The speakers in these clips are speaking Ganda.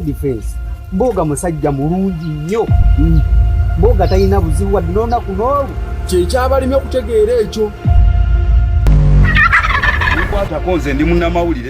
defense mboga musajja mulungi nnyo mm. mboga talina buzibu wadde n'olunaku n'olwo kyekyabalimi okutegeera ekyo nkwatako nze ndi munnamawulire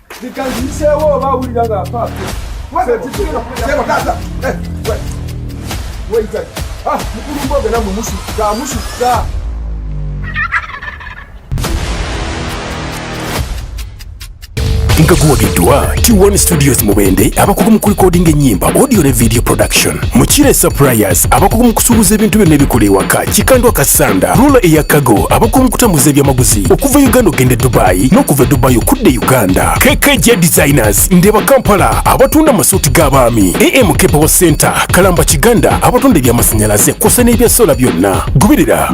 Nikanziseewo oba awulira nga apaapa. Weyita. Ah, mukulu mboge namwe musukka musukka. nga guwagiddwa T1 Studios Mubende abakugu mu kulikodinga ennyimba audio ne video production Mukire Suppliers abakugu mu kusuubuza ebintu byonna ebikola ewaka Kikandwa Kasanda Rula eya Kago abakugu mu kutambuza ebyamaguzi Dubai okuva Uganda okende Dubai n'okuva Dubai okudde Uganda KKJ Designers Ndeba Kampala abatunda masuuti g'abaami AMK Power Center Kalamba Kiganda abatunda eby'amasanyalaze kw'ossa n'ebya sola byonna goberera